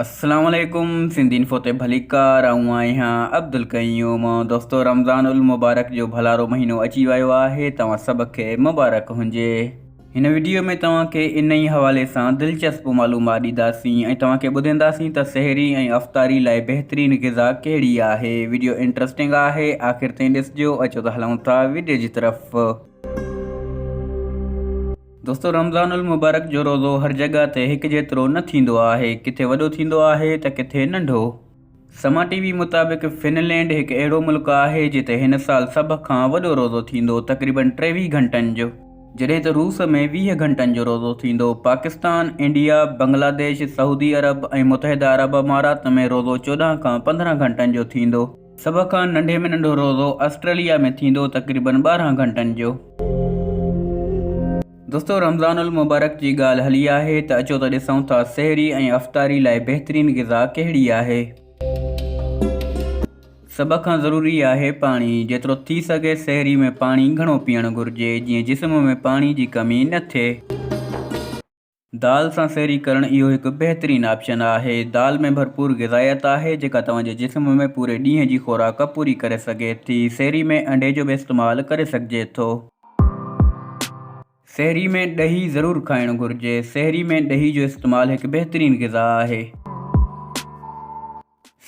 السلام عليڪم سنڌ انفو تي ڀليڪار آئون آهيان عبدالقيوم دوستو رمضان المبارڪ جو ڀلارو مهينو اچي ويو آهي توهان سڀ کي مبارڪ هجي هن وڊيو ۾ توهان کي ان ئي حوالي سان دلچسپ معلومات ڏينداسين ۽ توهان کي ٻڌينداسين ته سحري ۽ افطاري لاء بهترين غذا ڪهڙي آهي وڊيو انٽرسٽنگ آهي آخر تائين ڏسجو اچو ته هلون ٿا وڊيو جي طرف. دوستو رمضان المبارڪ جو روزو هر جڳهه تي هڪ جيترو نه ٿيندو آهي ڪٿي وڏو ٿيندو آهي ته ڪٿي ننڍو. سما ٽي وي مطابق فن لينڊ هڪ اهڙو ملڪ آهي جتي هن سال سڀ کان وڏو روزو ٿيندو تقريبن ٽيويهه گهنٽن جو. جڏهن ته روس ۾ ويهه گهنٽن جو روزو ٿيندو. پاڪستان، انڊيا، بنگلاديش، سعودي عرب ۽ متحده عرب امارات ۾ روزو چوڏهن کان پندرهن گهنٽن جو ٿيندو. سڀ کان ننڍي ۾ ننڍو روزو آسٽريليا ۾ ٿيندو تقريبن ٻارهن گهنٽن جو. دوستو رمضان المبارڪ جي ڳالهه هلي آهي ته اچو ته ڏسون ٿا سحري ۽ افطاري لاء بهترين غذا ڪهڙي آهي. سڀ کان ضروري آهي پاڻي جيترو ٿي سگهي سحري ۾ پاڻي گهڻو پيئڻ گهرجي جيئن جسم ۾ پاڻي جي ڪمي نه ٿئي. دال سان سحري ڪرڻ اهو هڪ بهترين آپشن آهي. دال ۾ ڀرپور غذائيت آهي، جيڪا توهان جي جسم ۾ پوري ڏينهن جي خوراڪ پوري ڪري سگهي ٿي. سحري ۾ انڊي جو به استعمال ڪري سگهجي ٿو. سحري ۾ ڏهي ضرور کائڻ گهرجي. سحري ۾ ڏهي جو استعمال هڪ بهترين غذا آهي.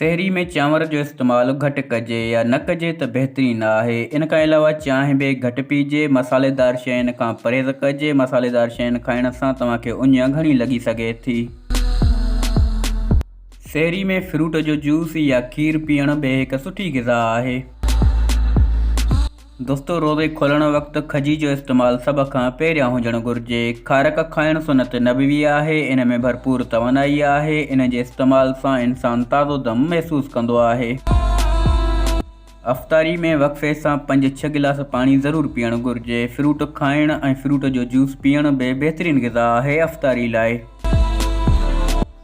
سحري ۾ چانور جو استعمال گهٽ ڪجي يا نه ڪجي ته بهترين آهي. ان کان علاوه چانهه به گهٽ پيئجي. مصالحيدار شين کان پرهيز ڪجي. مصالحيدار شين کائڻ سان توهان کي اڃ گهڻي لڳي سگهي ٿي. سحري ۾ فروٽ جو جوس يا کير پيئڻ به هڪ سٺي غذا آهي. دوستو روزي کولڻ وقت کجي جو استعمال سڀ کان پهريان هجڻ گهرجي. کارڪ کائڻ سنت نبوي آهي، ان ۾ ڀرپور توانائي آهي، ان جي استعمال سان انسان تازو دم محسوس ڪندو آهي. افطاري ۾ وقفي سان پنج ڇهه گلاس پاڻي ضرور پيئڻ گهرجي. فروٽ کائڻ ۽ فروٽ جو جوس پيئڻ به بهترين غذا آهي افطاري لاء.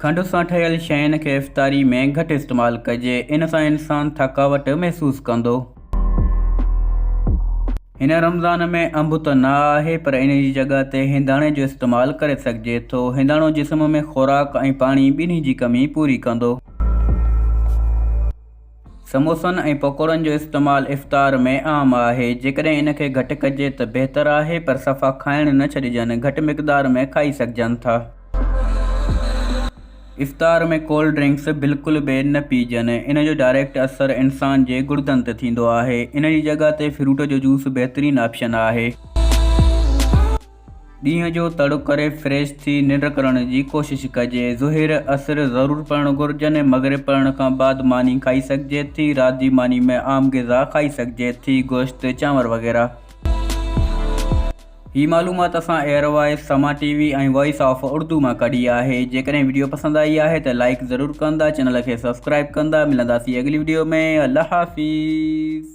کنڊ سان ٺهيل شين کي افطاري ۾ گهٽ استعمال ڪجي، ان سان انسان ٿڪاوٽ محسوس ڪندو. هن رمضان ۾ انب ته نه آهي پر ان جي جڳهه تي هنداڻي جو استعمال ڪري سگهجي ٿو. هنداڻو جسم ۾ خوراڪ ۽ پاڻي ٻنهي جي ڪمي پوري ڪندو. سموسن ۽ پڪوڙن جو استعمال افطار ۾ عام آهي. جيڪڏهن ان کي گهٽ ڪجي ته بهتر آهي پر صفا کائڻ نه ڇڏجن. گهٽ مقدار ۾ کائي سگهجن ٿا. افطار ۾ ڪولڊ ڊرنڪس بلڪل به نه پيئجن، ان جو ڊائريڪٽ اثر انسان جي گڙدن تي ٿيندو آهي، ان جي جڳهه تي فروٽ جو جوس بهترين آپشن آهي. ڏينهن جو تڙ ڪري فريش ٿي ننڊ ڪرڻ جي ڪوشش ڪجي، ظهير، عصر ضرور پڙهڻ گهرجن ۽ مغرب پڙهڻ کان بعد ماني کائي سگهجي ٿي، رات جي ماني ۾ عام غذا کائي سگهجي ٿي، گوشت، چانور وغيره. هي معلومات اسان ايئر وائس، سما ٽي وي ۽ وائس آف اردو مان ڪڍي آهي. جيڪڏهن وڊيو پسند آئي آهي ته لائيڪ ضرور ڪندا چينل کي سبسڪرائيب ڪندا ملنداسين اڳلي وڊيو ۾ الله حافظ.